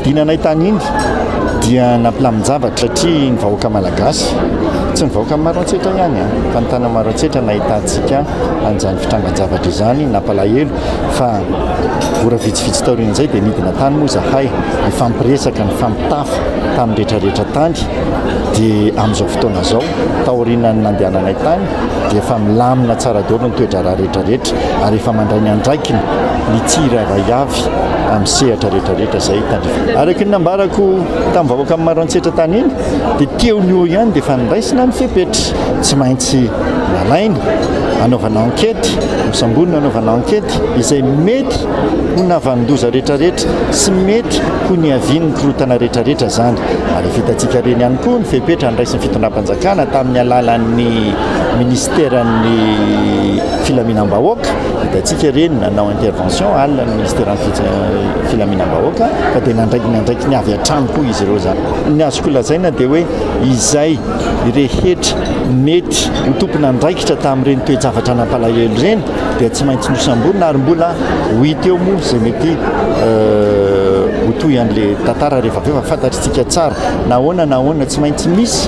Hinanay tany Indy dia nampilamin-javatra satria ny vahoaka malagasy, tsy ny vahoaka Maroantsetra ihany fa ny tanana Maroantsetra nahitantsika an'izany fitrangan-javatra izany, nampalahelo fa ora vitsivitsy taorian'izay dia nidina tany moa izahay nifampiresaka, nifampitafa tamin'ny rehetrarehetra tany dia amin'izao fotoana izao taorianan'ny nandehananay tany dia efa milamina tsara daholo ny toe-draharaha rehetrarehetra ary efa mandray ny andraikiny ny tsirairay avy amin'ny sehatra rehetrarehetra izay tandrifana. Araka ny nambarako tamin'ny vahoaka maro an-tsetra tany iny dia teo ny eo ihany dia efa niraisina ny fepetra. Tsy maintsy nalaina anaovana ankety, nosamborina anaovana ankety izay mety ho navanon-doza rehetrarehetra sy mety ho niavian'ny korontana rehetrarehetra izany. Ary vitatsika reny ihany koa ny fepetra andraisin'ny fitondram-panjakana. Kana tamin'ny alalan'ny Minisiteran'ny Filaminam-bahoaka, hitantsika ireny nanao intervention alina ny Minisiteran'ny Filaminam-bahoaka fa dia nandraiky ny andraikiny avy hatrany koa izy ireo izany. Ny azoko lazaina dia hoe izay rehetra nety ho tompon'andraikitra tamin'ireny toe-javatra nampalahelo ireny dia tsy maintsy nosamborina ary mbola ho hita eo moa izay mety ho tohin'ilay tantara rehefa avy eo fa fantatr'isika tsara nahoana nahoana tsy maintsy misy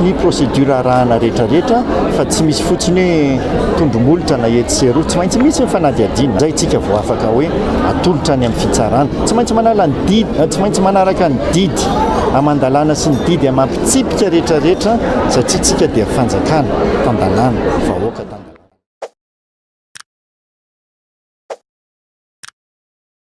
ny procédure arahana rehetra rehetra fa tsy misy fotsiny hoe tondromolotra na etsy sy eroa, tsy maintsy misy ny fanadihadiana, izay isika vao afaka hoe atolotra any amin'ny fitsarana, tsy maintsy manala ny didy, tsy maintsy manaraka ny didy aman-dalàna sy ny didy amam-pitsipika rehetra rehetra satria isika dia fanjakana, tan-dalàna, vahoaka tan-dalàna.